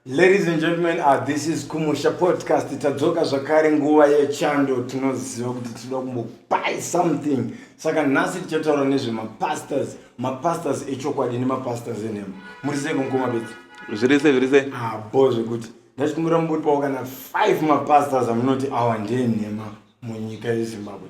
Ladies and gentlemen, uh, this is Kumusha Podcast. Tadzoka zvakare nguva yechando tinoziva kuti tinoda kumbopai something. Saka nhasi tichataura nezvemapastors, mapastors echokwadi nemapastors enhema. Muri sei kumukoma bedzi? Zviri sei, zviri sei? Ah, bo zvekuti. Ndachikumbira mumbotipawo kana 5 mapastors amunoti awa ndeenhema munyika yeZimbabwe.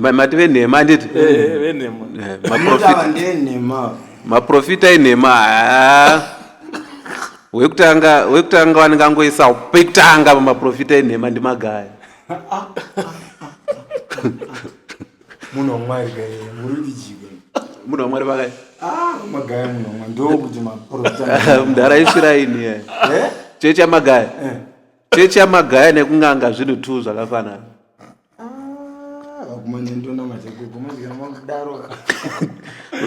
Ma- mati venhema handiti Eh, venhema Eh, Ava maprofita- ndenhema maprofita enhema haa. wekutanga wekutanga vanenge angoisa pekutanga pamaprofita enhema ndimagaya munhu wamwari gaye muri kutijika munhu wamwari vakati ah magaya munhu wamwari ndokuti maprofita mdhara isviraini chechi yamagaya Eh, chechi yamagaya nekunganga zvinhu two zvakafanana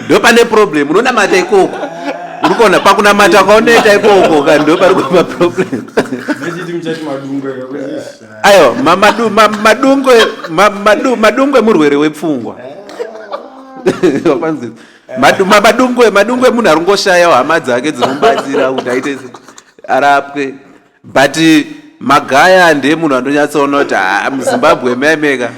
ndo pane problem unonamata ikoko uri kuona pakunamata kwaunoita ikoko ka ndo pari kuva problem ayo madungwe murwere wepfungwa wapanzi madungwe madungwe munhu ari ngoshayawo hama dzake dzinomubatsira kuti aite arapwe but magaya ndiye munhu andonyatsoona kuti ah, muzimbabwe maimeka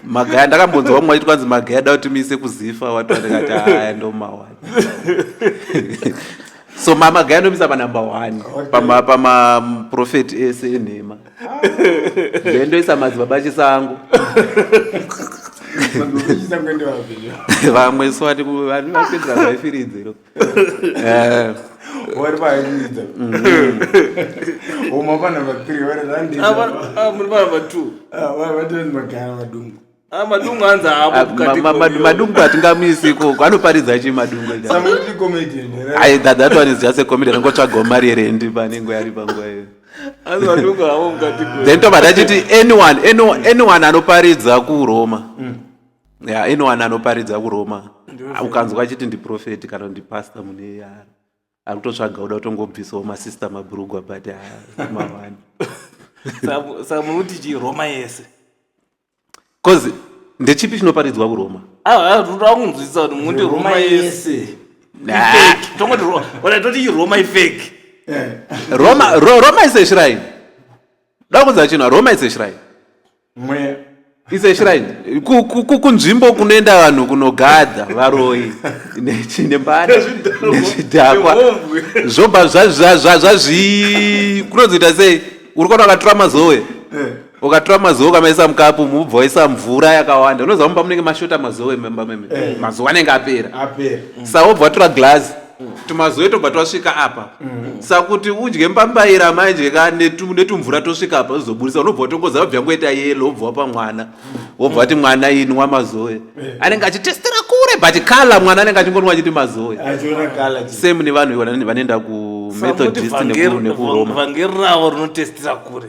magaya ndakambonzwa vamwe vachiti kwanzi magaya da kuti miise kuzifa watoandikati aya ndomawani so mamagaya anomisa panumber one pamaprofeti ese enhema ndoendoisa madzibaba chisango vamwe so vati vanhu vapedzera zvaifiridze Eh. vari vaidza uma vana vathree vari muri vana vatwo vatozi magara vadungu madungu anzi aamadungu hatingamisi ikoko anoparidza chi madungu ai that that one is just a comedy rangotsvagawo mari yerendi panengo yari panguva iyo then tobva tachiti anyone anyone anoparidza kuroma mm. Yeah, anyone anoparidza kuroma ukanzwa achiti ndiprofeti kana ndipasta mune yaro akutotsvaga kuda kutongobvisawo masista mabhurugwa but mawani saka muri kuti chii roma yese bcause ndechipi chinoparidzwa kuroma akunzwisisa ah, ah, kuti muti roma yese tongoti roma ifake eh. roma iseshrine da kunza chino roma iseshrine mweya is a shrine kunzvimbo kunoenda vanhu kunogadha varoyi nembada nezvidhakwa zvobva zvazvii kunozoita sei uri kona akatura mazowe eh. ukatura mazowe ukamaisa mukapu mubva waisa mvura yakawanda unoziva mumba munenge mashota mazowe mumba meme eh. mazowe anenge apera sa wobva watura glazi tumazuve tobva twasvika apa sakuti udye mbambaira manje ka netu- netumvura tosvika apa zvizoburitsa unobva watongoza wabva yangoita yelo wobva wapa mwana wobva wati mwana inwa mazoe anenge achitestera kure but kala mwana anenge achingonwa achiti mazoe achiona kala chi- same nevanhu vane- vanoenda kumethodist neku- nekuroma vhangeri ravo rinotestira kure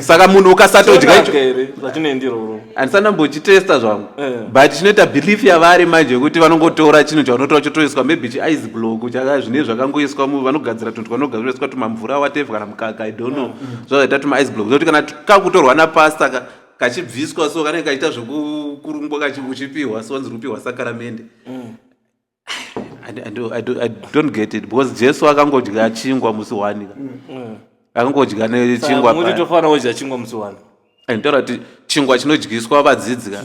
saka munhu ukasatodya icho handisana mbochitesta zvangu eh. but chinoita belief yavari manje yekuti vanongotora chinhu chaunotora chotoiswa maybe chiice block chaka zvine zvakangoiswa mu vanogadzira tunhu twanogadziraiswa tumamvura wateve kana mukaka i don't know mm, mm. zvazvaita tumaice block zvokuti kana kakutorwa napasta ka kachibviswa so kanenge kachiita zvekukurungwa uchipiwa so wanzi rupiwa sakaramende mm. I, I, do, I, do, I don't get it because jesu akangodya chingwa musi wani mm. akangodya nechingwa muti tofanira kudya chingwa musi wani nditaura kuti chingwa chinodyiswa vadzidzi ka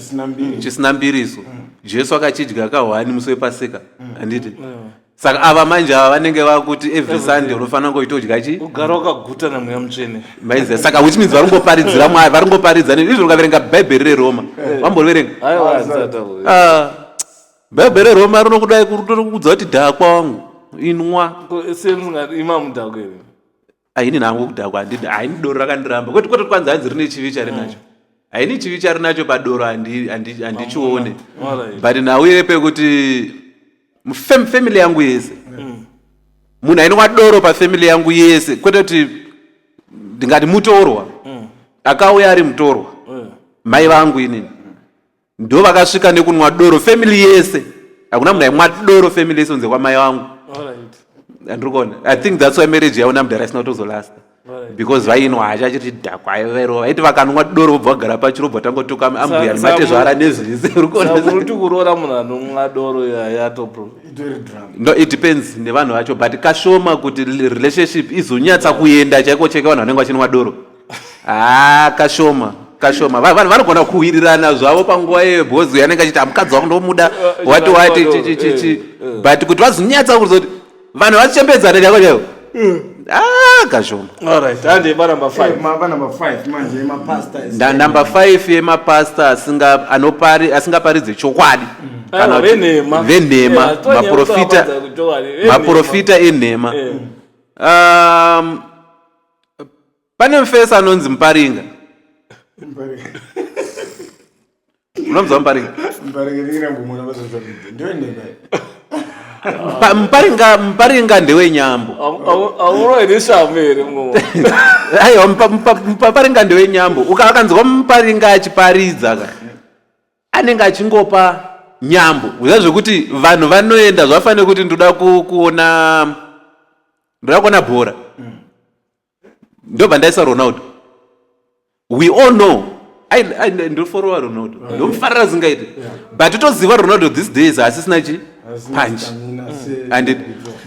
chisina mbiriso mm. jesu akachidya kahwani musi wepasika mm. handiti mm. saka ava manje ava vanenge vakuti every sunday unofanira ngoita udya chi ugara wakaguta namweya mutsvene maiziva saka which means vari ngoparidzira mwari vari ngoparidza izvo ukaverenga bhaibheri reRoma eh. vamboverenga ah. Bhebhe reRoma rinokudai kukuudza kuti dhakwa wangu inwa. Ima mudhakwa here? Haini nangu kudhakwa handidi haini doro rakandiramba kwete kwete kwanzi hanzi rine chivi chari nacho. Mm. Haini chivi chari nacho padoro handichione but nhau ire pekuti family yangu yese mm. munhu ainwa doro pafamily yangu yese kwete kuti ndingati mutorwa mm. akauya ari mutorwa mai vangu inini ndo vakasvika nekunwa doro family yese hakuna munhu aimwa doro family yese unze kwamai vangu andirikuona i think thats why marriage yaona mudhara isina kutozolasta because vainwa hacha achiti dhakwa aivairova vaiti vakanwa doro vobva vagara pacho robva tangotuka ambuya nematezvara nezvese urikuonauroora munhu anomwa doro yayatono it depends nevanhu vacho but kashoma kuti relationship izonyatsa kuenda chaiko cheke vanhu vanenge vachinwa doro haa ah, kashoma kashoma vanhu vanogona kuhwirirana zvavo panguva iyoyo because uyo anenge achiti amukadzi wangu ndomuda wati wati chichichichi eh, eh. but kuti vazonyatsa kuzoti vanhu vachichembedzana chako chaivo eh. ah, kashoma ndanumber five yemapasta asingaparidze chokwadi mm. venhema maprofita enhema um, pane mufesi anonzi muparinga unonzwa muparinga Pa- muparinga muparinga ndewenyambo auroeneshambo here mumwe aiwa mupa- mupa- muparinga ndewenyambo Uka- akanzwa muparinga achiparidza ka anenge achingopa nyambo kuziva zvekuti vanhu vanoenda zvafanira kuti ndoda ku- kuona ndoda kuona bhora ndobva ndaisa ronaldo we all know ndoforowa ronaldo ndomufarira zingaite but toziva ronaldo this days haasisina chi punch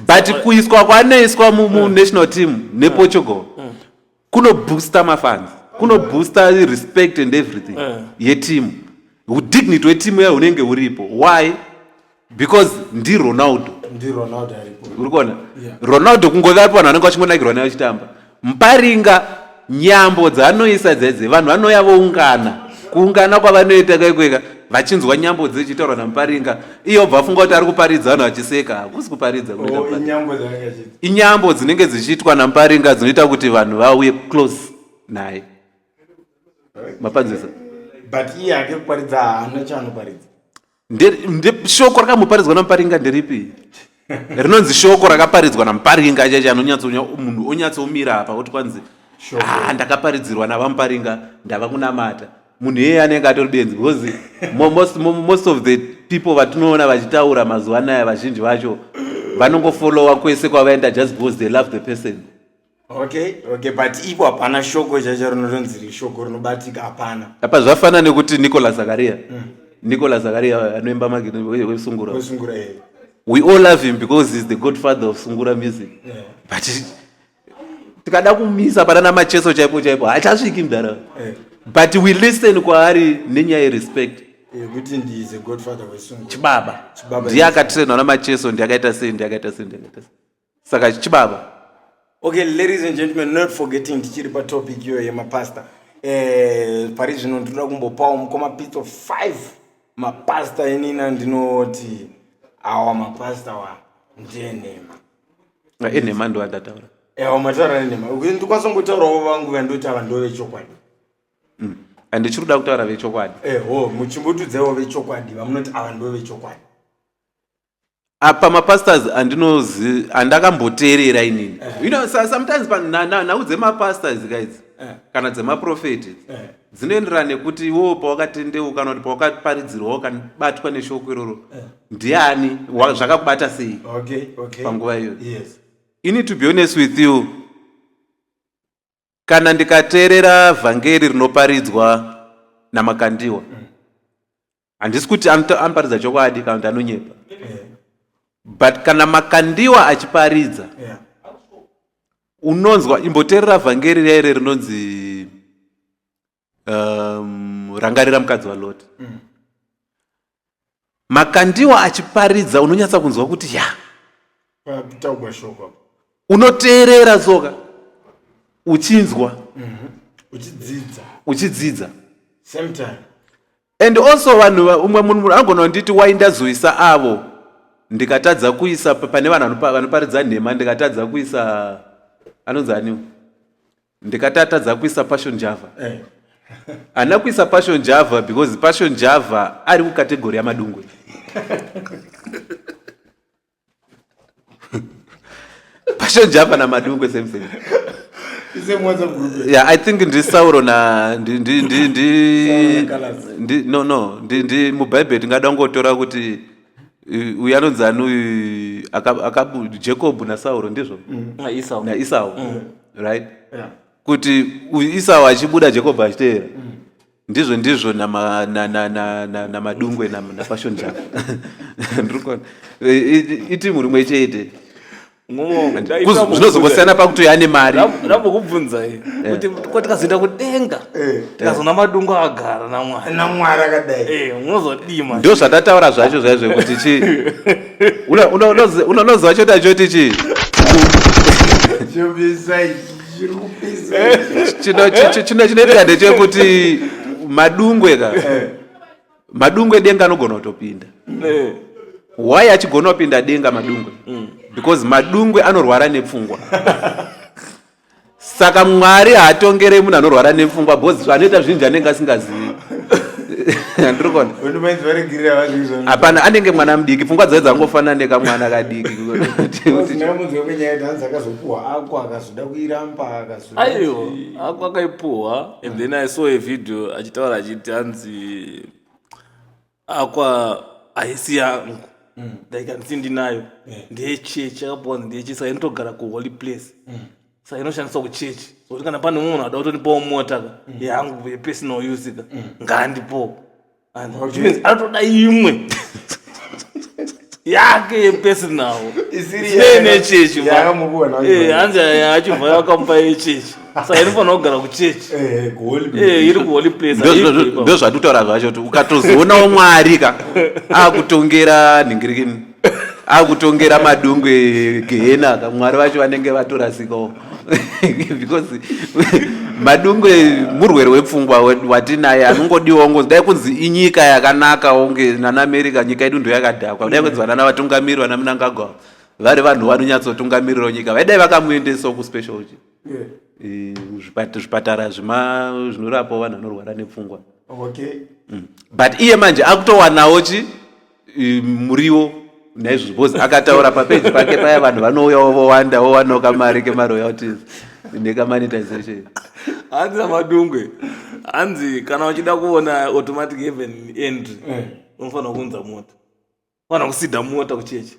but kuiswa kwaanoiswa munational team neportugal kuno booster mafans kuno booster respect and everything eh. yetimu udignity wetimu yayo unenge uripo why because ndi ronaldo uri kuona ronaldo kungove aripo vanhu vanenge vachingonakirwa naye vachitamba mparinga nyambo dzaanoisa dzedze vanhu vanouya voungana kuungana kwavanoita kaikweka vachinzwa nyambo dzechitaurwa namuparinga iyo bvafunga kuti ari kuparidza vanhu vachiseka hakusi kuparidza oh, Inyambo dzinenge dzichiitwa naMparinga dzinoita kuti vanhu vauye close naye. Mapanzisa. But iye ake kuparidza haana chaanoparidza. Shoko rakamuparidzwa naMparinga nderipi? Rinonzi shoko rakaparidzwa naMparinga chaicho anonyatso munhu onyatsomira apa oti kwanzi ah ndakaparidzirwa naVaMparinga ndava kunamata. munhu iyeye anenge atori benzi because most, most of the people vatinoona vachitaura mazuva anaya vazhinji vacho vanongofolowa kwese kwavaenda just because they love the person okay okay but ipo hapana shoko chacho rinotonzi rishoko rinobatika hapana apa zvafana nekuti nicolas zakaria mm. nicolas zakaria anoimba magewesungura we all love him because he's the godfather of sungura music yeah. but tikada kumisa panana macheso chaipo chaipo hachasviki mdara eh. but we listen kwaari nenyaya yerespect yekuti eh, ndi the godfather wesungu chibaba ndiye akatrainwa namacheso ndi akaita sei ndi akaita sei ndi akaita sei saka chibaba okay ladies and gentlemen not forgetting ndichiri patopic iyoyo yemapastor eh, pari zvino ndinoda kumbopawo mukoma pitso five mapastor inina ndinoti awa mapastor wa ndiye nhema enhema ndovandataura ewa mataura nenhema ndikwanisa kungotaurawo vangu vandotaura ndo vechokwadi mm. and ndichiri kuda kutaura vechokwadi eho eh, muchimbotudzaiwo vechokwadi vamunoti ava ndo vechokwadi apa ah, mapastors andinozi andakamboteerera inini eh. you know sometimes nhau dzemapastors guys eh. kana dzemaprofeti dzinoenderana nekuti iwowo pawakatendeuka kana kuti pawakaparidzirwa wakabatwa neshoko iroro eh. ndiani zvakakubata sei panguva iyoyo ini to be honest with you kana ndikateerera vhangeri rinoparidzwa namakandiwa mm. handisi kuti anoparidza chokwadi kana kuti anonyepa but kana makandiwa achiparidza yeah. unonzwa imboteerera vhangeri riya ire rinonzi um, rangarira mukadzi waloti mm. makandiwa achiparidza unonyatsa kunzwa kuti ya unoteerera soka uchinzwa mm -hmm. uchidzidza uchidzidza same time And also vanhu umwe munhu anogona kunditi why ndazoisa avo ndikatadza kuisa pane vanhu vanoparidza nhema ndikatadza kuisa anonzi aniwo ndikatatadza kuisa passion java eh. ana kuisa passion java because passion java ari kukategori yamadungwe pashonjapa namadungwe same same yeah i think ndi sauro na ndi ndi ndi ndi ndi no no ndi ndi mubhaibheri tingada kungotora kuti uh, uyu anonzi ani uyu aka- akabu jacob nasauro ndizvo Mm. Na Esau. naisau right Yeah. kuti uyu isau achibuda jacob achiteera ndizvo ndizvo namadungwe nafashion java ndirikuona itimu rimwe chete zvinozongosiyana pakuti uyo ane mari ndambokubvunzai eh. kuti ko tikazoenda kudenga eh. tikazoona madungu agara namwarinamwari akadai eh, unozodima ndo zvatataura zvacho zvaizvo kuti chi unozowa choti achoti chi chinoitika ndechekuti madungwe ka eh. madungwe denga anogona kutopinda eh. why achigona kupinda denga madungwe mm. because madungwe anorwara nepfungwa saka mwari haatongere munhu anorwara nepfungwa bcause anoita zvinhu zvanenge asingazivi hapana anenge mwana mudiki pfungwa dzae dzangofanana nekamwana kadiki akazoda kuiramba akazoaiyo ako akaipuhwa and then i saw a video achitaura achiti hanzi akwa haisi yangu mm. like handisi ndinayo ndeyechechi akapuwa hanzi ndeyechechi saka inotogara kuholy place mm. saka inoshandiswa kuchechi sokuti kana pane umwe munhu ada kutonipawo mota ka mm. yangu yepersonal use ka ngaandipowo anotoda imwe yake yepersonal nechechi hanzi achibva yakamupa yechechi sa inofanira kugara kuchechi eh, eh, iri kuholy placendozvatutaura zvacho kuti ukatozoonawo mwari ka akutongera nhingirikini akutongera madungu egehena aka mwari vacho vanenge vatorasikawo because madungu murwere wepfungwa watinaye anongodiwa ngo dai kunzi inyika yakanaka onge nana america nyika yedu ndo yakadhakwa dai kunzi vanana vatungamiri vana munangagwa vari vanhu vanonyatsotungamirirawo nyika vaidai vakamuendesawo kuspecial chi eh, zvipatara zvima zvinorapawo vanhu vanorwara nepfungwa okay. mm. but iye manje akutowanawo chi muriwo naizvozvo bcause akataura papeji pake paya vanhu vanouyawo vowanda wowanawo kamari kemaroyalties nekamonetization hanzi namadungwe hanzi kana uchida kuona automatic even entry eh. unofanira kunza mota unofanira kusida mota kuchechi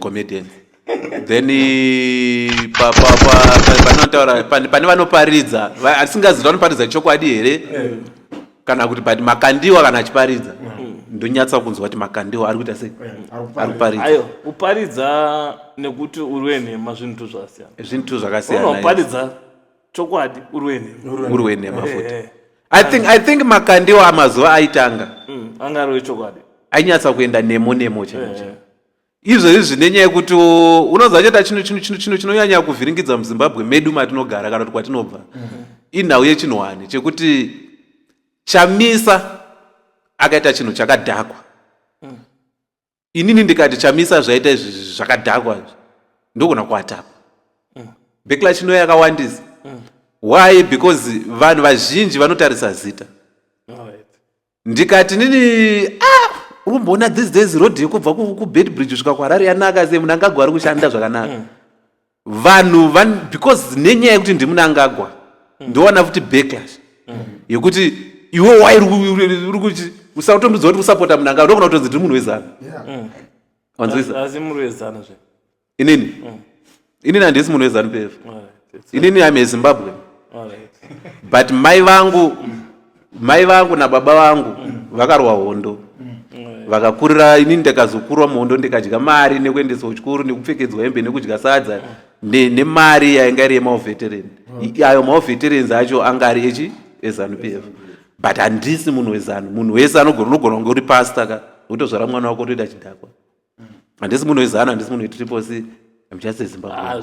comedian then panotaura pane vanoparidza asingazivi vanoparidza chokwadi here eh. kana kuti but makandiwa kana achiparidza mm. ndonyatsa kunzwa kuti makandiwa ari kuita sei eh, ari kuparidza uparidza nekuti uri wenhema zvinhu zvakasiyana zvinhu zvakasiyana unoparidza chokwadi urwene urwene mafuta eh, i think i think makandiwo amazuva aitanga mm, anga ari wechokwadi ainyatsa kuenda nemo nemo chaicho izvo izvi zvine nyaya yekuti unonzwa cheta chino chino chino chino chinonyanya kuvhiringidza muzimbabwe medu matinogara kana kuti kwatinobva mm-hmm. inhau yechinhwani chekuti chamisa akaita chinhu chakadhakwa mm. inini ndikati chamisa zvaita izvi zvakadhakwa izvi ndogona kuatapa mm. backlash inoya yakawandisa mm. why because vanhu vazhinji vanotarisa zita ndikati nini ah, urumboona these days road yekubva kubed bridge svika kuharari yanaka se munhu angagwari kushanda zvakanaka mm. vanhu van, because nenyaya yekuti ndimunangagwa mm. ndowana futi backlash mm. yekuti iwe wairi kuti usatombidzwa kuti usapota munangagwa ndokona kutonzi ndiri munhu wezana mm. wanzwisaazimuruwezana zve inini mm. inini handisi munhu wezanu pf inini ame zimbabwe but mai vangu mm. mai vangu nababa vangu vakarwa hondo vakakurira ini ndakazokurwa muhondo ndikadya mari nekuendesa kuchikoro nekupfekedzwa hembe nekudya sadza nemari yainga iri yemaoveterani ayo maoveterans acho anga ari echi ezanu p f but handisi munhu wezanu munhu wese anogona unogona kunge uri pasta ka wotozvara mwana wako otoita chidhakwa handisi munhu wezanu handisi munhu wetriple c im just ezimbabwe ah,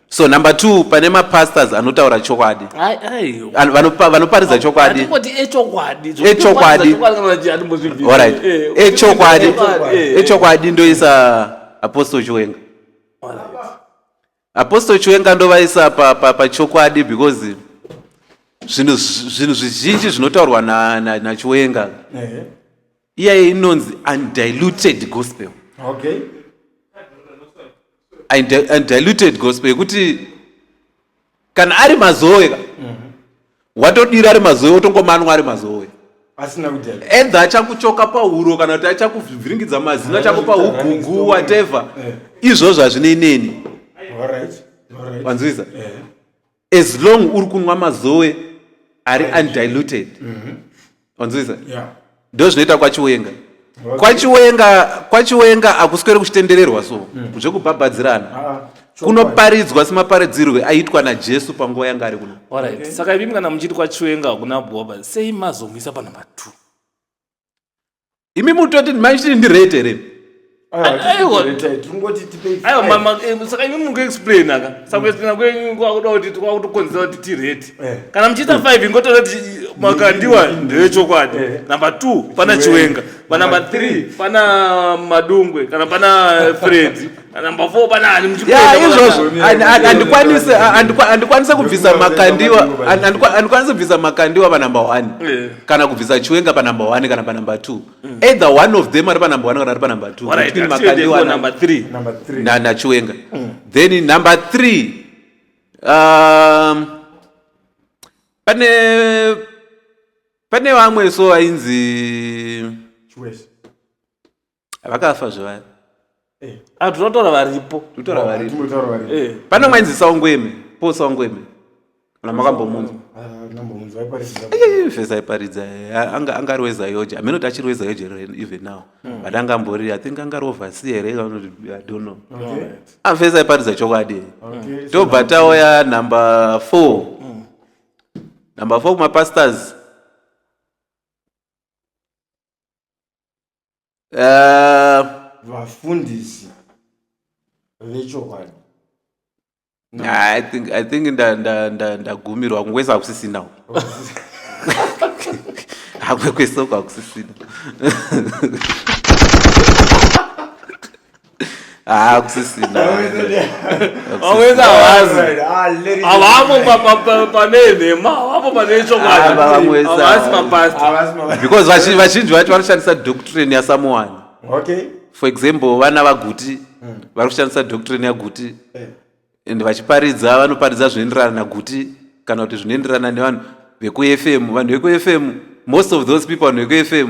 so number two pane mapastors anotaura chokwadi vanoparidza chokwadi echokwadi eh. ndoisa apostle chiwenga apostle chiwenga ndovaisa pachokwadi because zvinhu zvizhinji zvinotaurwa nachiwenga iyaye inonzi undiluted gospel okay undiluted gospel yekuti kana ari mazoe ka mhm. watodira ari mazoe wotongomanwa ari mazoe edha achakuchoka pahuro kana kuti achakuvhiringidza mazino achakupa ugugu whatever eh. izvozvo hazvinei neni wanzwisa eh. as long uri kunwa mazoe ari undiluted mhm. wanzwisa ndo zvinoita kwachiwenga kwachiwenga kwachiwenga akuswere kuchitendererwa so mm. zvekubhabhadzirana ah, ah. kunoparidzwa semaparidzirwe aitwa najesu panguva yanga ari kuno saka imi kana muchiti kwachiwenga hakuna bhoba sei mazomisa panumber two imi mutoti maitiri ndirate here Aiwa. tirikungoti tipei aiwa five. mama eh, saka imi mukuexplaina ka saka kuexplaina kwenyu kwakuda kuti kwakutokonzera kuti tirate Eh. kana muchiita five ingotora kuti makandiwa Ndini, ndini. ndevechokwadi Eh. number two pana Chiwenga. chiwenga panumber Number three three. pana madungwe kana pana fredi andikwanise kubvisa makandiwa andikwanise kubvisa makandiwa panumber one eh. kana kubvisa chiwenga panumber one kana panumber two mm. either one of them ari panumber one kana ari panumber two between makandiwa number three nachiwenga mm. then number three um, pane pane vamwe so ainzi vakafa zvevaya eh. ah, tinotaura varipo tinotaura oh, varipo eh. pane umwe ainzi saungweme po saungweme kana makambomunzwa fes aiparidza anga anga ari wezayoje amene kuti achiri wezayoje even now hmm. but anga ambori i think anga ari ovasi here idono fes aiparidza chokwadi tobva tauya number four hmm. number four kumapastors eh, vafundisi vechokwadi i think i think ndagumirwa kungwesa hakusisinawo hamwe kwesoko hakusisina havamo pane nhema havamo pane chokwadibeause vazhinji vacho vanoshandisa doctrine yasamuwani for example vana vaguti hmm. vari kushandisa doctrine yaguti eh. and vachiparidza vanoparidza zvinoenderana naguti kana kuti zvinoenderana nevanhu vekufm vanhu vekufm most of those people vanhu vekufm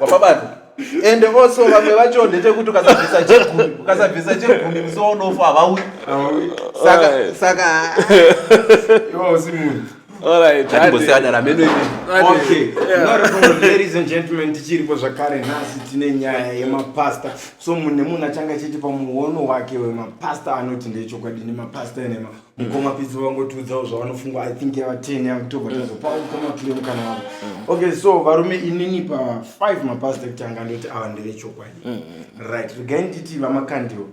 wapabata ende also vamwe vacho ndechekuti ukasabvisa chegumi ukasabvisa chegumi musi waunofa havauyi saka Alright. saka Iwo usi munhu. Alright, hatimbosiyana rameno imi Okay. Normal, ladies and gentlemen, tichiripo zvakare nhasi tine nyaya yemapasta so mune munhu achanga achiti pamuono wake wemapasta anoti ndechokwadi nemapasta enema mukoma pidzi vangotiudzawo zvavanofunga i think yava ten yavo tobva tazopa mukoma pidzi mukana wavo okay so varume inini pa five mapasita kuti anga ndoti ava ndevechokwadi right regai nditi vamakandiwa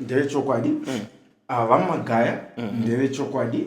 ndevechokwadi ava vamagaya ndevechokwadi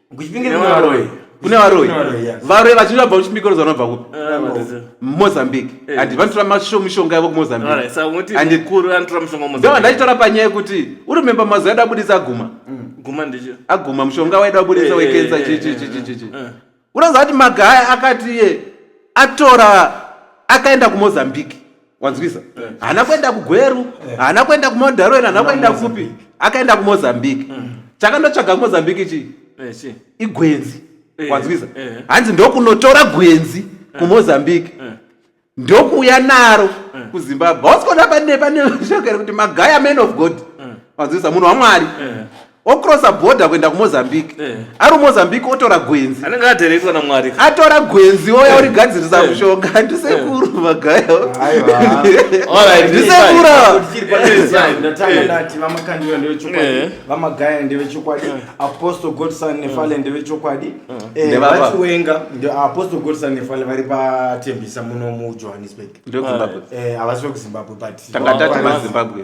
kuchipinge kune varoyi kune varoyi varoyi vachiti vabva kuchipinge rozi vanobva kupi mumozambique eh. and vanotora mishonga yavo kumozambiqueandondoa ndachitaura panyaya yekuti urumemba mazuva edu abudisa aguma mm. aguma mushonga waida abudisa eh, eh, wekensa chichichichichichi unoziva kuti magaya akati iye atora akaenda kumozambique wanzwisa eh. haana kuenda kugweru eh. haana kuenda kumaundaroen haana kuenda kupi akaenda kumozambique eh. chakandotsvaga kumozambique chii igwenzi wanzwisa hanzi ndokunotora gwenzi kumozambique ndokuuya naro kuzimbabwe hausikona pane pane shokere kuti magaya man of god wanzwisa munhu wamwari ocrossa border kuenda kumozambique eh. ari mozambique otora gwenzi anenge atereitwa namwari atora gwenzi oya eh. origadzirisa eh. mushonga handisekuru magayo ndisekuruvamagaya ndevechokwadi apostle godson nefale ndevechokwadi vachiwenga apostle godson nefale vari patembisa muno mujohannesburg havasi vekuzimbabwe but tanga tati mazimbabwe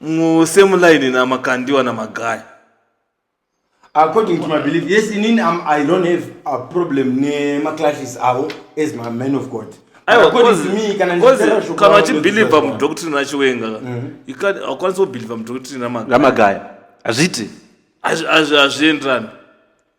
musame line namakandiwa namagaya according to my belief yes inini I'm, i don't have a problem nemaclashes avo as my man of god Aiwa, According cause- to me, kana cause ndichitera shoko kana ravo uchibhilivha ndozviziva. mudhokitrine achiwenga You can't- haukwanisi kubhilivha mudhokitrine namagaya ramagaya hazviti Hazvi- hazvi- hazvienderani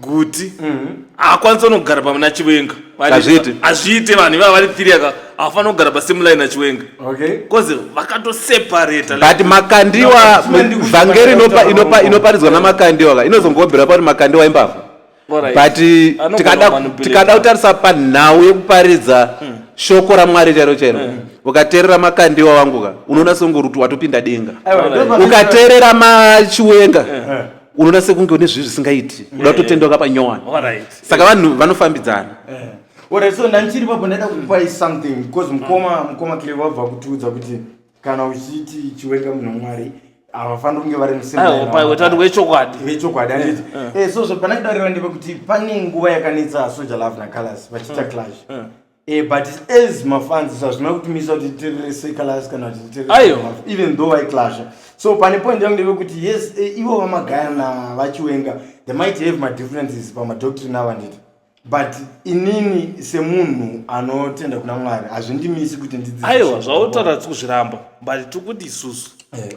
guti haakwanisa unogara pamuna chiwenga Hazviiti. hazviite vanhu ivava vari three aka havafanira kugara pasame line nachiwenga okay bcause vakatoseparata but makandiwa No, no, no. vhangeri inopa- inopa- inoparidzwa namakandiwa ka inozongobhera pakuti makandiwa imbavha but Anogona tikada kumanipulate. tikada kutarisa panhau yekuparidza shoko ramwari chairo chairo ukateerera makandiwa wangu ka unoona songoruti watopinda denga aiwa Alright. ndopa- ukateerera machiwenga unoda sekunge une zvinhu zvisingaiti uda kutotenda wakapa nyowani saka vanhu vanofambidzana eh. ora so ndandichiri papo ndaida kupai something because mukoma mukoma clever vabva kutiudza kuti kana uchiti chiwenga munhu mwari havafaniri kunge vari musimbawetanhu wechokwadi wechokwadi anditi eh, eh. so zvapanakidariva ndepekuti pane nguva yakanetsa soja love nacolors vachiita clash Eh, but as mafans hazvina kutimisa kuti titerere seclass kana kuti titerere even though vaiclasha so pane point yangu ndeve kuti yes eh, ivo vamagaya na vachiwenga they might have madifferences pamadoctrine avo handiti but inini semunhu anotenda kuna mwari hazvindimisi kuti ndiaiwa zvautaura tiri kuzviramba but tiri kuti isusu eh.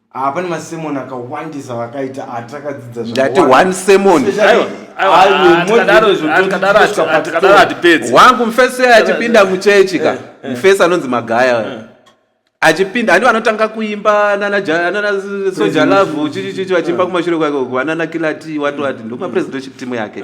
Ah, pane masemon akawandisa vakaita atakadzidza ndati one semon wangu mfesi achipinda muchechi ka eh, eh. mfesi anonzi magaya eh. achipinda handi vanotanga kuimba nanasoja love chichichichi vachiimba kumashure kwake uku vanana kilati wati wati ndomapresident chief timu yake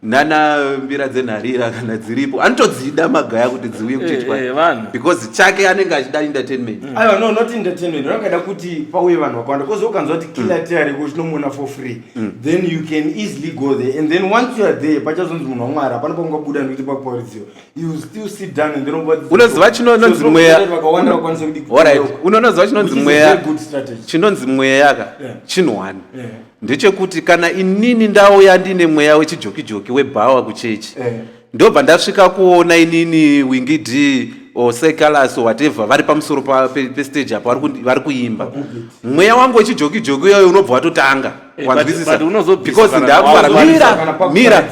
nana mbira dzenharira kana dziripo anotodzida magaya kuti dziuye kuchitwa eh, eh, because chake anenge achida entertainment mm. aiwa no not entertainment vanokaida kuti pauye vanhu vakawanda kozi ukanzwa kuti kila mm. tiari ko chinomuona for free mm. then you can easily go there and then once you are there pachazonzi munhu wamwari hapana paungabuda nekuti pakuparidziwa you still sit down and then unoziva chinononzi mweya unonoziva chinonzi mweya chinonzi mweya ka chinhu one ndechekuti kana inini ndauya ndine mweya wechijokijoki webhawa kuchechi eh. ndobva ndasvika kuona inini wingi d or secalas or whatever vari pamusoro pestage pe apo vari kuimba mweya wangu wechijokijoki uyoyo unobva watotanga eh, wanzwisisa because ndakuaramira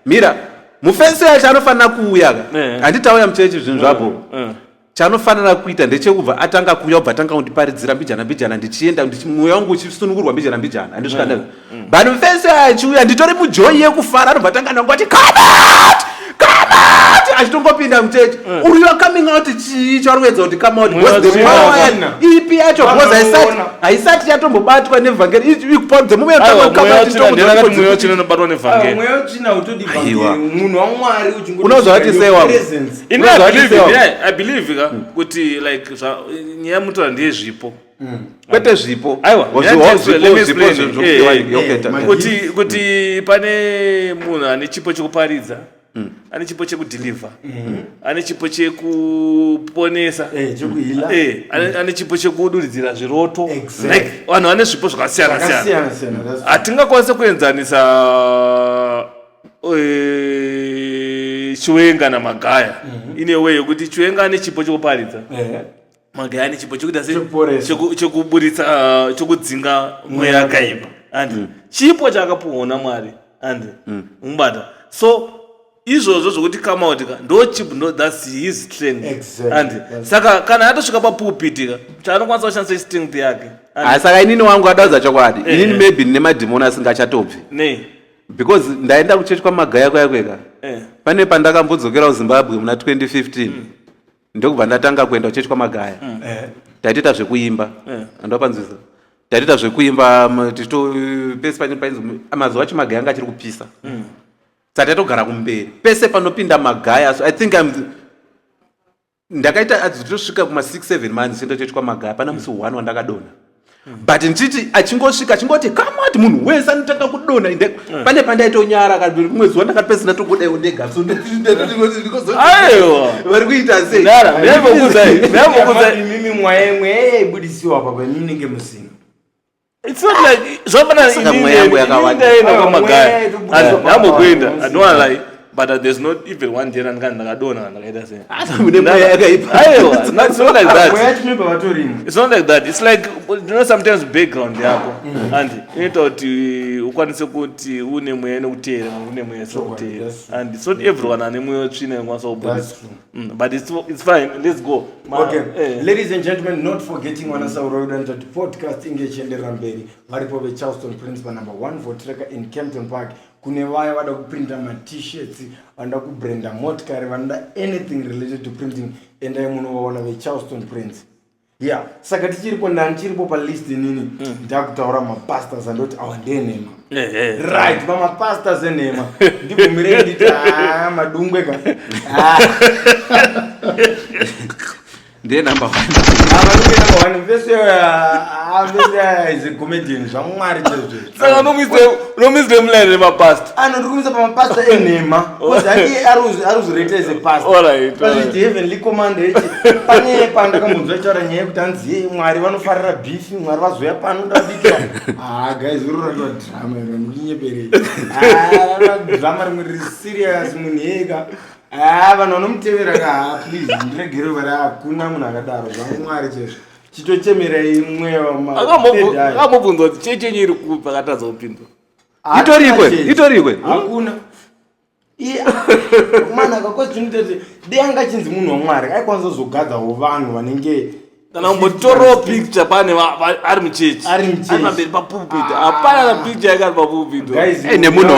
mira mufesi yacho anofanira kuuya ka eh. handichauya muchechi zvinhu zvapo eh, Chaanofanira kuita ndechekubva atanga kuuya obva atanga kundiparidzira mbijana mbijana ndichienda mweya wangu uchisunungurwa mbijana mbijana handisvika mm. mm. vanhu vese achiuya nditori mujoyi yekufara anobva atanga nangu ati kamat kamat achitongopinda mucheche mm. uri your coming out chii chauri kuedza kuti come out was the power ipi yacho because haisati haisati yatombobatwa nevhangeri ikupa dzemume yotanga come out mweya wachina unobatwa nevhangeri mweya wachina utodi vhangeri munhu wamwari uchingounozvati sewa ini Unonzwa I believe- achisewa. yeah, I believe ka kuti like zva- nyaya mutora ndeyezvipo kwete zvipo Aiwa, Or yeah, zvipo- just let me zvipo- zvipo explain. zve- Eh, zvokupiwa eh, ini. Okay, eh, ta- my- kuti kuti pane munhu ane chipo chekuparidza ane chipo chekudhilivha ane chipo chekuponesa Eh, chekuhila. Eh, ane ane chipo chekuduridzira zviroto Exactly. Like, vanhu vane zvipo zvakasiyana siyana Zvakasiyana siyana, that's- hatingakwanise kuenzanisa eh, chiwenga namagaya mhm. ine way yekuti chiwenga ane chipo chekuparidza eh. magaya ane chipo chekuita se chekuburitsa eh, chekudzinga mweya akaipa and mm. chipo chaakapuhwa namwari and mm. mubata so izvozvo zvokuti kamautika ndo chip no thats his strength exactly. and yes. saka kana atosvika papulpiti ka chaanokwanisa kushandisa strength yake ah, saka inini wangu adadza chokwadi eh, inini eh. maybe ndine madhimoni asingachatobvi nei because ndaenda kuchechi kwamagaya kuya kweka eh. pane pandakambodzokera kuzimbabwe muna 2015 mm. ndokubva ndatanga kuenda kuchechi kwamagaya mm. eh. taitoita zvekuimba eh. andopanzwisa taitoita zvekuimba tichito pese pane painzi mazuva acho magaya anga achiri kupisa mm. saka taitogara kumberi pese panopinda magaya so i think I'm, ndakaita adzi totosvika kuma 67 months sendotoitwa maga hapana musi one wandakadona but ndichiti achingosvika achingoti kamati munhu wese anotanga kudona inde eh. pane pandaitonyara kaimwe zuva ndakati pesina tongodaiwo ndega vari kuita seimimi mwaye mweya yaibudisiwa papa imimi nenge musina It's not like zvapana Saka ini mweya yangu yakawanda. ndaenda Ah, kwamagaya mweya yedu buda and kwamagaya. ndambopinda i don't wanna lie but uh, there's not even one day randika ndakadona kana ndakaita sei Hata mune mweya yakaipa. aiwa not- it's not like mweya that yacho mimba vatorimo it's not like that it's like you know sometimes background yako and inoita kuti ukwanise kuti une mweya inokutera une mweya isikuteera and it's not everyone ane mweya tsvina inokwanisa kubudisa Mm, but it's, it's fine let's go Ma, okay. eh. ladies and gentlemen not forgetting wana sauroyodanta kuti podcast inge ichienderera mberi varipo vecharleston prince panumber 1 votreka in campton park kune vaya vada kuprinta matshirt vanoda kubranda motikari vanoda anything related to printing endai munovaona vecharleston prince yeah saka tichiripo nani chiripo palist inini mm. ndakutaura mapastors andoti awa ndenhema right pamapastors enhema ndibvumirei nditi haa ah, madungwe ka ah. ndiye number one ah, vese vese is a comedian zvamwari chezvezvo saka unomuisa unomuisa emuline remapast ano ndiri kumuisa pamapasta enhema bcause handiye aruzvireta as a past All right, all right. heavenly command eti pane pandakambonzwa itaura nyaya yekuti hanzi "Ye, mwari vanofarira beef mwari vazouya pano ndabikira ah guys uri ratwa drama iro ndikunyeperei Ah, drama rimwe riri serious munhu yeka ah vanhu vanomutevera ka ah, please ndiregerei vari hakuna munhu akadaro zvamwari chezvo chitochemera imwe akamubvunzwa kuti chii chenyu iri kupi akatadza kupindura itorikwe itorikwe hakuna mwana akakozinitete dei anga achinzi munhu wamwari aikwanisa kuzogadzawo vanhu vanenge kana umbotorawo picture pane ari muchechi ari muchechi pamberi papulpit ah. hapana na picture yake ari papulpit nemunhu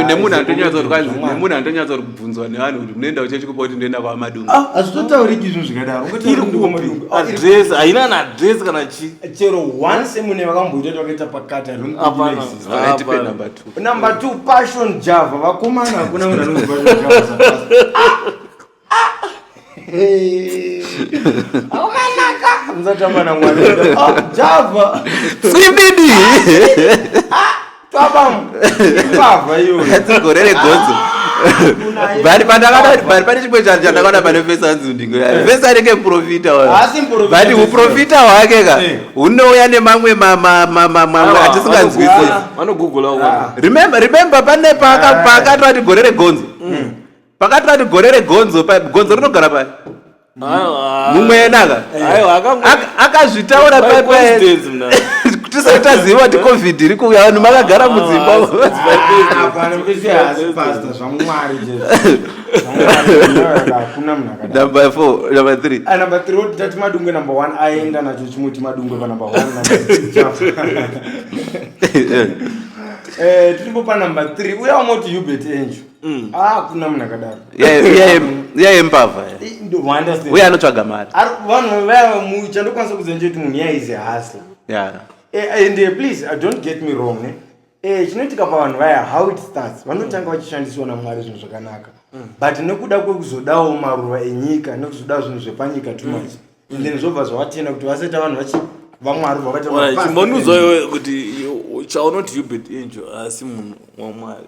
nemunhu anotonyatsa kuti nemunhu anotonyatsa kuti bvunzwa nevanhu kuti munoenda kuchechi kupa kuti ndoenda kwamadungu ah, hazvitotauriki izvo zvikadaro adress haina naadress kana chi chero once mune vakamboita kuti vakaita pakati haronumber two number two passion java vakomana hakuna munhu anonzi passion java aumanaka mzatamba namwana ah, java sibidi ah, gore regonzo but pandakadabut pane chimwe chanhu chandakaona pane vese anzi ndingo vese anenge muprofita but uprofita hwake ka eh. hunouya nemamwe mamwe atisinganzwisisi remember pane paakatoti gore regonzo mm. pakati pati gore regonzo gonzo rinogara pai mumwe yenaka akazvitaura pai pai tisati taziva ti covid iri kuuya vanhu makagara mudzimba number four number three ah, number three woti tati madungwe number one aenda nacho chimuti madungwe pa number one eh, tiripo pa number three uya wamoti hubert angel Mm. Ah, kuna munhu akadaro iyaye mbavha uye anotsvaga mari vanhu vaya mucha ndokwanisa kuziva nje kuti munhu iyaye izi hasla eh, and eh, please i don't get me wrong ne eh, chinoitika pavanhu vaya how it starts vanotanga vachishandisiwa namwari zvinhu zvakanaka mm. but nekuda kwekuzodawo maruva enyika nekuzodawo zvinhu zvepanyika too mm. much and then zvobva zvavatenda kuti vasaita vanhu vachi vamwari vavaita chimbonuzoyo kuti chaunoti hubert injo asi munhu wamwari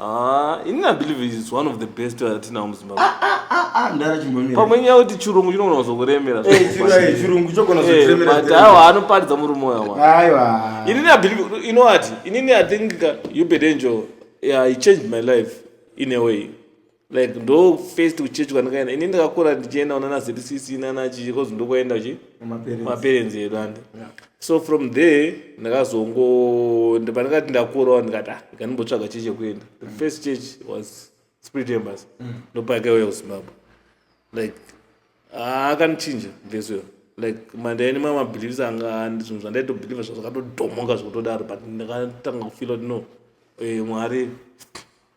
Ah, ini I believe it's one of the best atinawo muZimbabwe. Ah, ah, ah, ah, ndara chimhomera. Pamwe nyaya kuti chirungu chinogona kuzokuremera. Eh, chirungu eh, chirungu chogona kuzokuremera. Eh, but awa anoparidza murume wawa. Aiwa. Ini I believe you know what? Ini I think you bed angel. Yeah, he changed my life in a way. like ndo first kuchechi kwandikaenda ini ndakakura ndichienda unana zcc nana chii kozi ndokwaenda uchi maparents edu ande so from there ndakazongo pandikati ndakurawo ndikati ah ndikandimbotsvaga chii chekuenda the mm. first church was spirit embas mm. ndopakaiuya kuzimbabwe like ah, akanichinja this way like mandaini ma mabeliefs anga and zvinhu zvandaitobelieve zvazvakatodhomoka zvekutodaro but ndakatanga kufila kuti no eh, mwari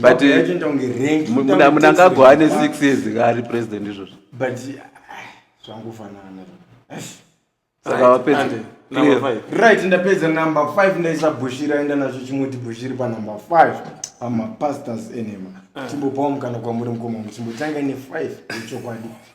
but munangagwa ane six years kaari president izvozvo but ah, zvangofanana saka vapedza right ndapedza number five ndaisa bushiri aenda nazvo chimoti bushiri panumber five pamapastors enema ah. chimbopawo mukana kwamuri mukoma muchimbotanga nefive yechokwadi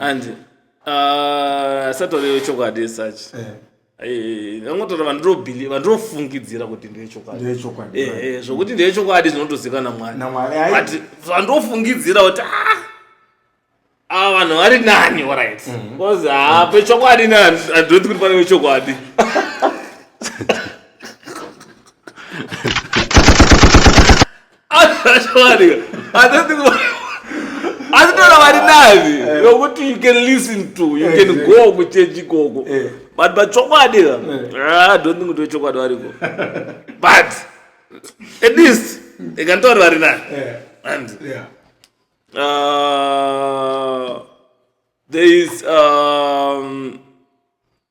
and uh, satori yechokwadi esachi eh. eh, angotora vandirobhili vandinofungidzira kuti ndeyechokwadi eh, zvokuti ndeyechokwadi zvinotozika namwari but vandinofungidzira kuti ah, ava vanhu vari nani orit bcause mhm. ha ah, pechokwadi ne andoti kuti pane vechokwadi Ashawanika. I don't think asitoda vari navi eh. yokuti you can listen to you can eh, go kuchechi ikoko eh. but pachokwadi ka ah, don't think kuti vechokwadi variko but at least ikanditauri vari navi and uh, there is um,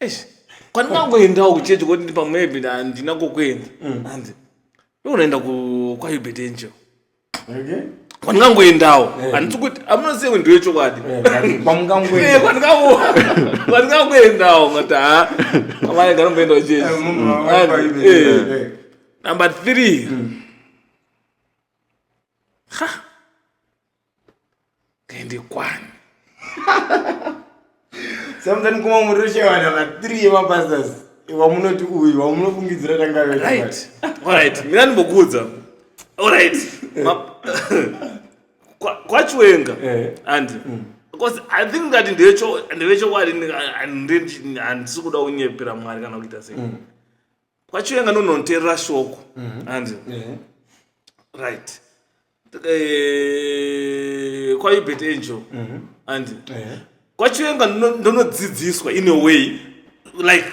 eish kwandinangoendawo kuchechi koti ndi pamwepi handina kokuenda mm. hanzi ndokunoenda kwayubet angel kwandingangoendawo eh. handisi kuti amunosewe ndiwe chokwadi eh, kwandingangoendawo eh, ngati ha amai nganomboendawo chechi number three mm. ha tende kwani samuzani kuma muri rushewana vathree yemapastors wamunoti uyu wamunofungidzira tangaverit orit mina ndimbokuudza orit kwachiwenga eh. andi mm. because i think ngati ndevechokwadi handisi kuda kunyepera mwari kana kuita sei mm. kwachiwenga nononterera shoko mhm. hanzi mhm. right eh, kwaibet angel mhm. hanzi eh. kwachiwenga ndonodzidziswa in a way like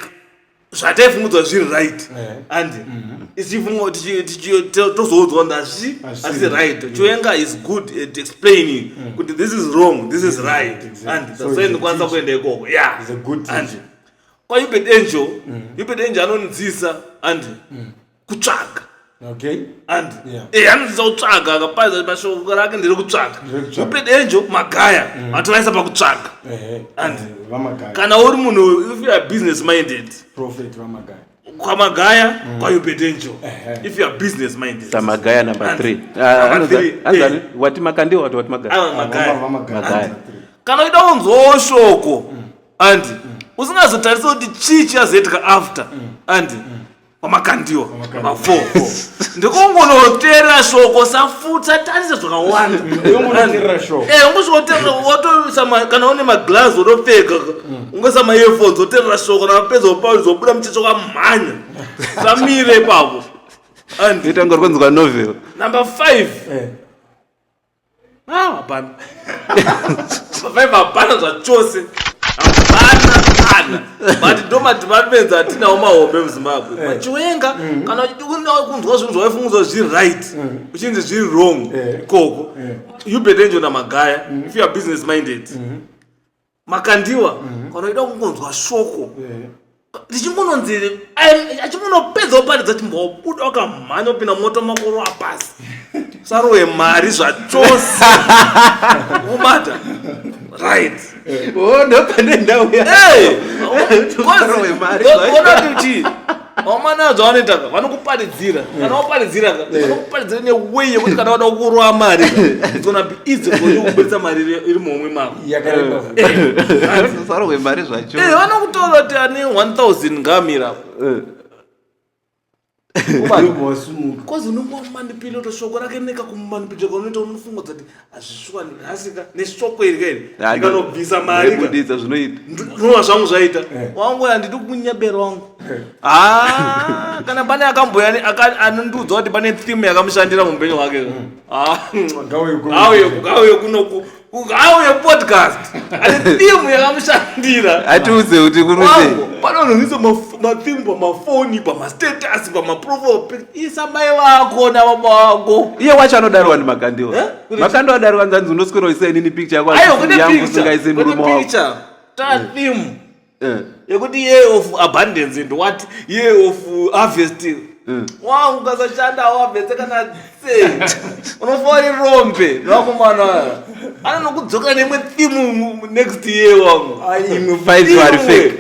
zvataifungudzwa zviri right eh. handi ichifunga tozoudzwa kuti hazvi asi right chiwenga is good at explaining kuti this is wrong this is right handi so ndikwanisa kuenda ikoko yeah kwaubed angel mm. ubed angel anonzisa andi mm. kutsvaga okay andi yeah. e eh, anonzisa kutsvaga akapaza mashoko rake ndiri kutsvaga ubed angel magaya mm. atovaisa pakutsvaga andi eh, kana uri munhu if youare business minded prophet vamagaya kwamagaya mm. kwaubed angel if youare business minded samagaya number three wati makandiwa wati wati magaya kana uida unzwawo shoko mm. and usingazotarise kuti chii chiazoitika after and kwamakandiwa mafoo ndikungonoterera shoko safutsa tarisa zvakawanda ungosvikoterera kana une maglass otopfeka ungoisa maearphones oterera shoko namapedza opauri zobuda muchecho kwamhanya samire ipapo itanga uri kunzwa novel number five eh. Ah, hapana. Vaive hapana zvachose. Hapana kana. But ndomati vapedza hatinawo mahombe muZimbabwe. Eh. Machiwenga mm. kana uchida kunzwa zvinhu zvawaifungidzwa zviri right mm. uchinzi zviri wrong eh. ikoko. Eh. You better enjoy na magaya mm. if you are business minded. Mm-hmm. makandiwa mhm. kana uchida kungonzwa shoko ndichingononzi achingonopedza kuparidza chimbobuda wakamhanya kupinda moto makoro apasi sarowe mari zvachose ubata right oh, ndopane ndauya kuti vamana adzo vanoita ka vanokuparidzira kana waparidzira ka vanokuparidzira neway yekuti kana vada kurowa mari it's gonna be easy for you kubuditsa mari iri- iri muhomwe mako yakareba Saro kwemari zvacho. Eh, vanokutora kuti ane 1000 ngamira Ubani. wasumuka kozi unongomanipilota shoko rake nekakumanipilota kaunoita unofunga kuti hazvishuwani nhasi ka nesvoko iri ka iri Ah, ndikanobvisa mari ka Ndaibuditsa zvinoita ndinova zvangu zvaita Eh. wangu uyu handidi kunyebera wangu Ah, kana pane akamboya ne- aka- anondiudza kuti pane theme yakamushandira muupenyu hwake ka. Ah, Ngauye kuno. ngauye ku- ngauye kuno ku- ku- ngauye podcast ane theme yakamushandira atiudze kuti kunozei wangu panononisa matheme pamafoni pamastatus pamaprofile isa mai vako nababa vako iye wacho anodaro wani makandiwa eh? makandi wadaro wanzanzi unoswera uisa inini picture yako yangu usingaise murume wako tatheme eh. eh. yekuti year of abundance and what year of harvest wangu ukasashanda awabvese kana se unofauri rombe vakomana aya anonokudzoka nemwe thimu next year wangu imwe faivari fake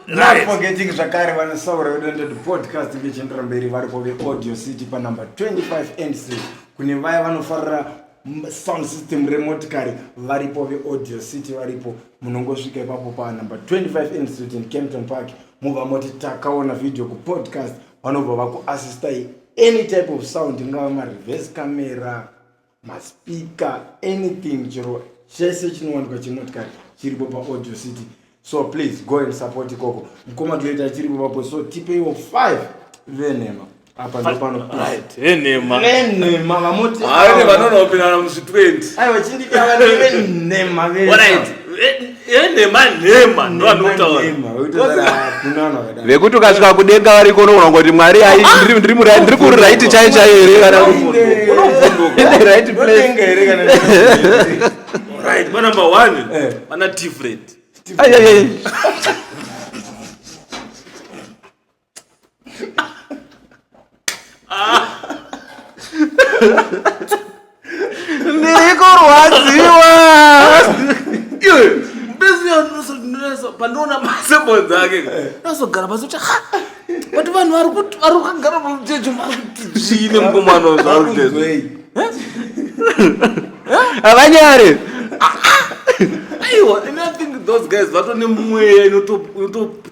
Right. forgetting zvakare vanosaura vedonded podcast vechiendera mberi varipo veaudio city panumber 25 and street kune vaya vanofarira m- sound system remotikari varipo veaudio city varipo munongosvika ipapo panumber 25 and street in campton park mobva moti takaona video kupodcast vanobva vakuassistai any type of sound ingava mareverse camera maspika anything chero chese chinowanikwa chemotikari chiripo paaudio city so please go and support ikoko mukoma toita chiripo papo so tipeiwo five venhema apa ndopano right enhema venhema vamoti vanonoperana muzvi 20 aiwa chindikava nevenhema vesa vekuti ukasvika kudenga variko unoona kuti mwari ndiri kuri raiti chai chai here kana right place right ma number 1 eh. ana different ndiri kurwadziwa pandiona masebo dzake ndazogara pasi kuti but vanhu vari kuti vari kugara pamutejo vari kuti zviine mukomana zvavari kutezo havanyare aiwa and i think those guys vatone mweya inotop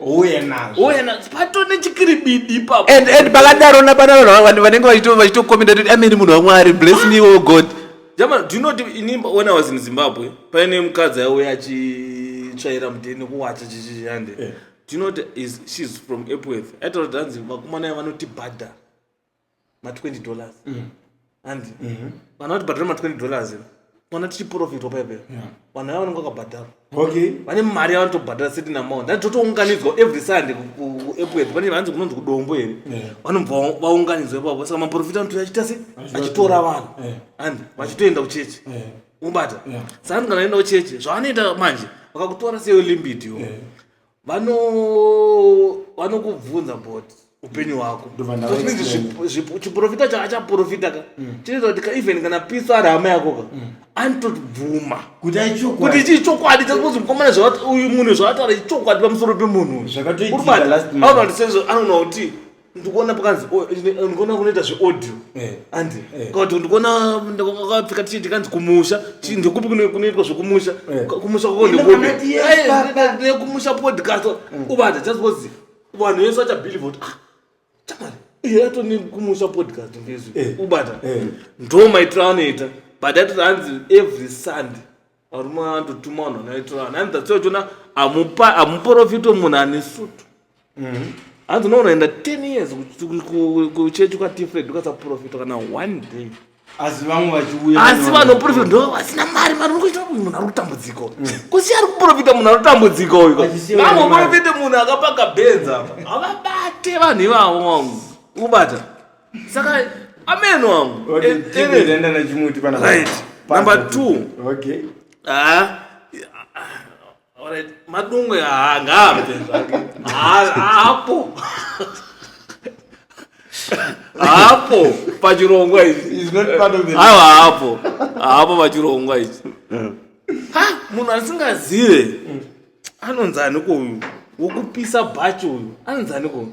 uye nazvo uye nazvo pato nechikiribidi ipapo and and pakadaro napana vanhu vanenge vachito vachitokomenda kuti ameni munhu wamwari bless me oh god jama do you know ini when i was in zimbabwe paine mukadzi aiuya achitsvaira mudheni kuwacha chichiyande yeah. do you know is she's from epworth aitaura kuti hanzi vakomana ya vanotibhadha ma 20 dollars mm. hanzi mhm. vanhu vatibhadhara ma 20 dollars iro ona tichiprofitwa paipeyo vanhu ava vanenge vakabhadhara vane mari yavanotobhadhara certain amount dai totounganidzwa every sunday kuepwed pane vanzi kunonzi kudombo here vanobva vaunganidzwa ipapo saka maprofita anotoya achiita se achitora vanhu and vachitoenda kuchechi ubata saka kana enda kuchechi zvavanoita manje vakakutora seyo limbit yo vano vanokubvunza but upenyu hwako Ndobva ndava Those means explain. zvipo- zvipo- chiprofita cha achaprofita ka chinoita kuti ka even kana pisa ari hama yako ka anotobvuma kuti aichokwadi kuti chii chokwadi chakuti mukomana zvawati- uyu munhu zvawataura ichokwadi pamusoro pemunhu uyu. Zvakatoitika Uri bati, last month. anoti sezvo anoona kuti ndikuona pakanzi oh, ndikuona kunoita zveaudio eh. andi eh. kuti ndikuona kakapfeka tichiti kanzi kumusha mm. ndekupi kunoitwa zvekumusha eh. kumusha kwako ndekumusha podcast mm. ubata just because vanhu vese vachabelieve kuti ah chamari iye atoni kumusha podcast ngezvi ubata ndo maitiro anoita but atoti hanzi every sunday varume vanototuma vanhu vanoitirana hanzi that's why uchiona amupa amuporofito munhu ane sutu Mhm. hanzi unoona enda 10 years ku- ku- ku- kuchechi kwatifred ukasaporofita kana one day asi vamwe vachiuya asi vane- vanoporofita ndo vasina mari mari urikuita uyu munhu ari kutambudziko kusiya ari kuporofita munhu ari kutambudziko uyu Achisiya vamwe vane mari. porofita munhu akapaka benzi apa havabate vanhu ivavo wangu ubata saka ameno wangu Okay, Eh, TV eh, itaenda nachimuti pana right Pasi. number two Okay. Ah, ah, alright. madungwe haa ngaabve zvake Haa- haapo haapo pachirongwa ichi He's not part of the haiwa haapo haapo pachirongwa ichi ha munhu asingazive anonzi aniko uyu wokupisa bhachi uyu anonzi aniko uyu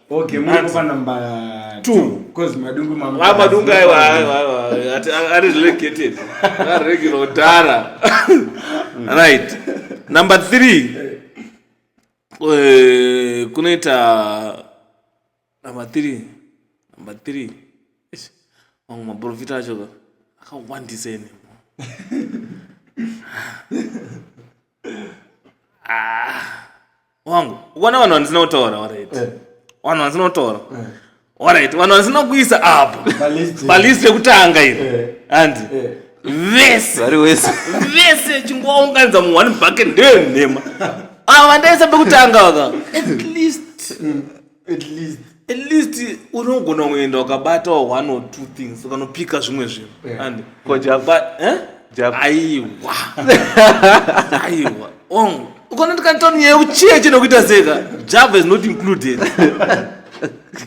Okay, munopa number 2 because madungu mamu. Ah, madungu ayo ayo ati ari relegated. Ari regular dara. Right. Number 3. Eh, kunoita number 3. Number 3. Mamwe maprofita acho ka. Akawandisa ene. Ah. wangu ukona vanhu vandisina kutaura orit eh. vanhu vandisina kutaura eh. orit vanhu vandisina kuisa apo balist yekutanga iri eh. handi vese vari wese vese chingovaunganidza mu one bucket ndeyo nhema ava vandaisa pekutanga vaka at least mm. at least at least unogona kuenda ukabatawo one or two things ukanopika zvimwe zvinhu yeah. and ko java eh? java aiwa aiwa on oh, ukona ndikantoni ye uchiye chino kuita zeka java is not included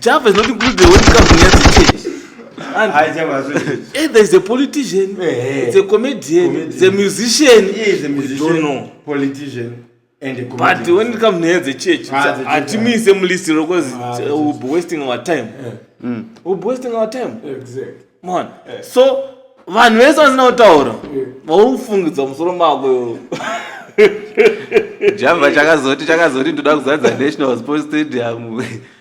java is not included when it comes to nyati change And I hey, there's a politician, hey, hey. it's a comedian, comedian, it's a musician. He is a musician. We don't know. Politician. but when it comes nenyaya dzechurch hatimuise mulist ro bcause will be wasting our time mm. will be wasting our time mon so vanhu vese vasina kutaura vaufungidza musoro mako jamba chakazoti chakazoti ndoda kuzadza national sports stadium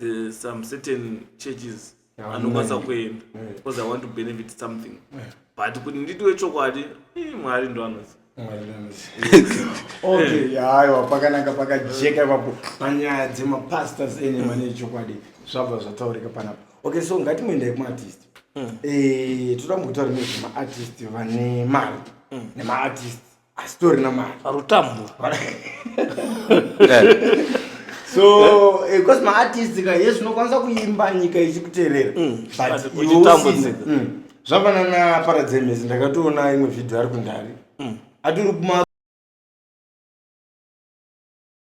the some certain churches Yeah, anokwanisa online. kuenda Yeah. because i want to benefit something Yeah. but kuti nditiwe chokwadi eh, mwari ndo anozi okay yaiwa pakanaka pakajeka ipapo panyaya dzemapastors ene mane chokwadi zvabva zvataurika panapa okay so ngatimoendai kumaartist Eh, toda mukutaura nezvemaartist vane mari nemaartist asitorina mari arutambo so eh, because maartist ka yes unokwanisa kuimba nyika ichikuterera mm, but iwosina mm. zvafanana paradzemes ndakatoona imwe vhidhio ari kundari mm. atiri kuma